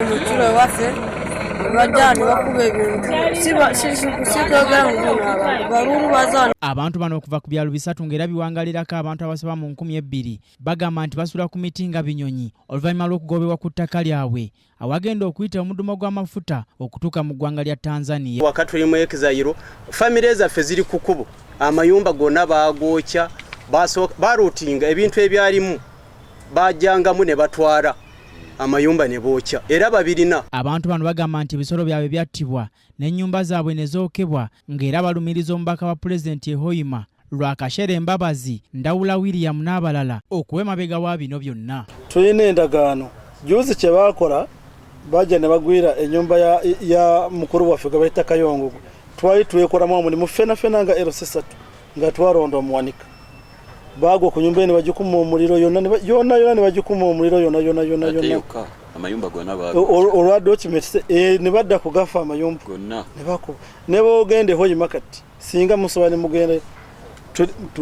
kilo ewaffe olwajjani bakuba ebintu sikwogera muguno abantu baluulu bazana abantu bano okuva ku byalo bisatu ng'era biwangalirako abantu abasaba mu nkumi ebbiri bagamba nti basula ku miti nga binyonyi oluvannyuma lw'okugobebwa ku ttaka lyabwe awagenda okuyita omudumo gw'amafuta okutuuka mu ggwanga lya tanzania wakatuli mu exairo famire zaffe ziri ku kubo amayumba gonna baagokya baruutinga ebintu ebyalimu bajangamu ne batwala amayumba ne bookya era babirina. Abantu bano bagamba nti ebisolo byabwe byattibwa n'ennyumba zaabwe ne zookebwa ng'era balumiriza omubaka wa Pulezidenti e Hoima Rwakashere Mbabazi, Ndawula William n'abalala okuwa emabega wa bino byonna. Tulina endagaano juuzi kye baakola bajja ne bagwira ennyumba ya, ya mukulu waffe gwe bayita Kayongo twali twekolamu omulimu ffenafena nga LC3 nga twalonda omuwanika baagwa ku nyumba ye ne bagikuma omuliro yonna yonna yonna ne bagikuma omuliro yonna yonna yonna yonna amayumba gona olwa document eh, ne badda kugafa amayumba gonna ne bako ne boogende hoyi makati singa musoba ne mugende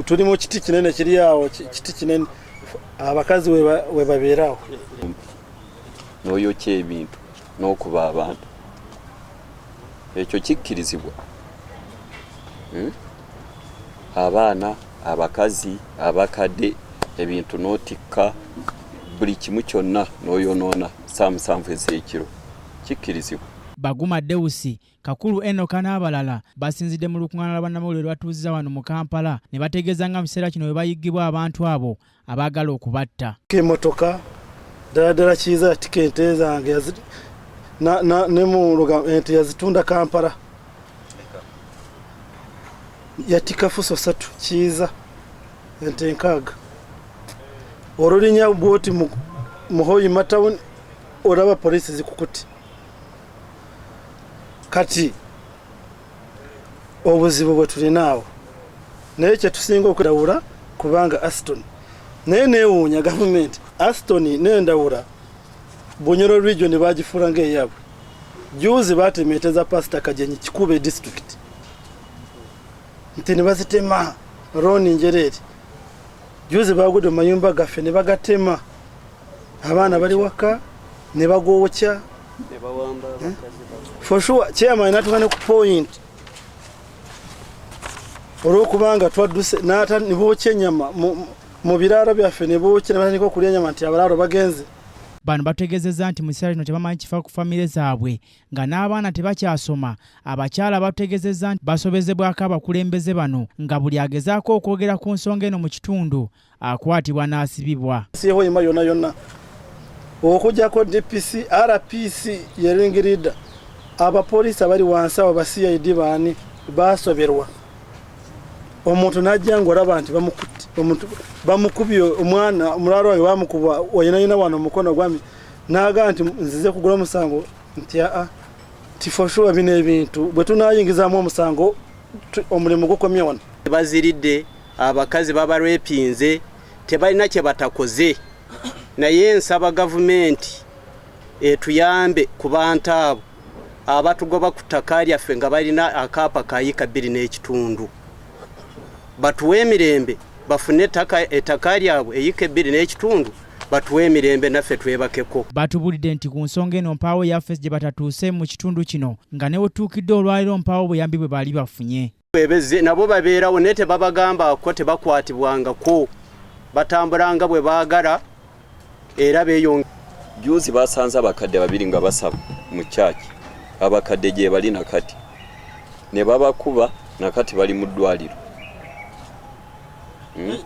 tuli mu kiti kinene kiri awo kiti kinene abakazi we babeerawo n'oyokya ebintu n'okuba abantu ekyo kikkirizibwa hmm? abaana abakazi abakadde ebintu n'otikka buli kimu kyonna n'oyonoona ssa musanvu ez'ekiro kikkirizibwa. Baguma Deusi, Kakuru Enoka n'abalala basinzidde mu lukung'aana lwa bannamawulire lwe batuuzizza wano mu Kampala ne bategeeza nga mu kiseera kino bwe bayiggibwa abantu abo abaagala okubatta. K'emotoka ddala ddala kiyiza yatika ente zange ne mu luga ente yazitunda Kampala yatika fuso satu kiyiza ente nkaaga olulinya bwoti muhoyi matawuni olaba poliisi zikukuti kati obuzibu bwe tulinaawo naye kyetusinga okudawula kubanga aston naye newuunya gavumenti aston nendawula bunyoro region bagifuula ngaeyabwe juuzi batemeeteza pasita kajenyi kikube district nti nebazitema roni njereeri juuzi bagudde mu mayumba gaffe nebagatema abaana bali waka ne bagookya eh? for sure chairman natuka ne ku point olwokubanga twadduse nata nibookya enyama mu biraalo byaffe ne bookya ne batandika okulya enyama nti abalaalo bagenze bano bategezeza nti mu kiseera kino tebamanyi kifa ku famire zaabwe nga n'abaana tebakyasoma abakyala bategezeza nti basobezebwako abakulembeze bano nga buli agezaako okwogera ku nsonga eno mu kitundu akwatibwa n'asibibwa sihoima yona yona okujako dpc rpc yeringirida abapoliisi abali wansi abo ba cid baani basoberwa omuntu najja ngaolaba nti bamukubye omwana omulaalo wange bamukuba oyinayina wano omukono gwami naga nti nzize kugula omusango nti aa tifoshuwa bino ebintu bwe tunayingizamu omusango omulimu gukomye wano baziridde abakazi babarepinze tebalina kyebatakoze naye nsaba gavumenti etuyambe ku bantu abo abatugoba ku ttaka lyaffe nga balina akaapa kayika bbiri n'ekitundu batuwe emirembe bafune ettaka lyabwe eyika ebbiri n'ekitundu batuwe emirembe naffe twebakeko batubulidde nti ku nsonga eno mpaawo yafesi gye batatuuse mu kitundu kino nga newetuukidde olwaliro mpaawo buyambi bwe baali bafunye bwebeze nabo babeerawo naye tebabagambako tebakwatibwangako batambulanga bwe baagala era beyong juzi basanze abakadde babiri nga basaba mu kyaki abakadde gyebali nakati ne babakuba nakati bali mu ddwaliro hmm?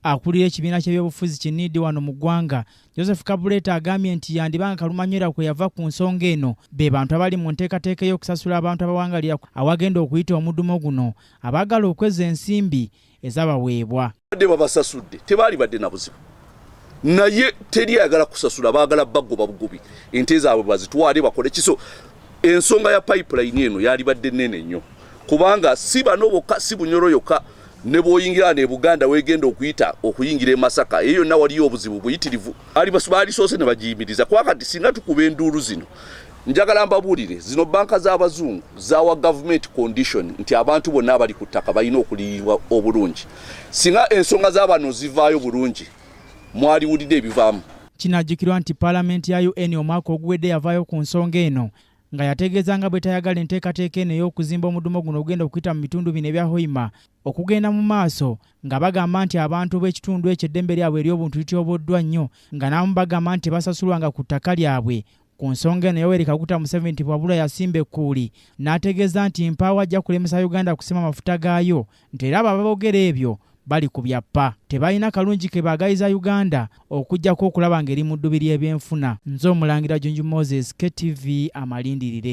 akulira ekibiina ky'ebyobufuzi kinidi wano mu ggwanga Joseph Kabuleta agambye nti yandiba nga kalumanywera kwe yava ku nsonga eno be bantu abali mu nteekateeka ey'okusasula abantu abawangalira awagenda okuyita omudumo guno abaagala okweza ensimbi ezabaweebwa badde babasasudde tebaali badde na buzibu naye teri ayagala kusasula baagala bagoba bugobi ente zaabwe bazitwale bakole kiso ensonga ya pipeline eno yalibadde nene nnyo kubanga si bano bokka si bunyoro yokka ne bwoyingira wano e buganda wegenda okuyita okuyingira e masaka eyo yonna waliyo obuzibu buyitirivu baalisoose ne bagiyimiriza kuba kati singa tukuba enduulu zino njagala mbabuulire zino banka z'abazungu zawa gavumenti condition nti abantu bonna abali ku ttaka balina okuliyibwa obulungi singa ensonga z'abano zivaayo bulungi mwaliwulidde ebivaamu kinajjukirwa nti palamenti ya un omwaka oguwedde yavaayo ku nsonga eno nga yategeeza nga bwe tayagala enteekateeka eno ey'okuzimba omudumo guno ogenda okuyita mu bitundu bino ebya hoima okugenda mu maaso nga bagamba nti abantu b'ekitundu ekyo eddembe lyabwe ery'obuntu lityoboddwa nnyo nga n'abamu bagamba nti tebasasulwanga ku ttaka lyabwe ku nsonga eno yoweri kaguta museveni nti bwabula yasimba ekkuuli n'ategeeza nti mpaawo ajja kulemesa uganda kusima mafuta gaayo nti era abo ababogera ebyo bali ku byappa tebalina kalungi ke baagayiza uganda okujjako okulaba ng'eri mu ddubi ly'ebyenfuna nze omulangira junju moses ktv amalindirire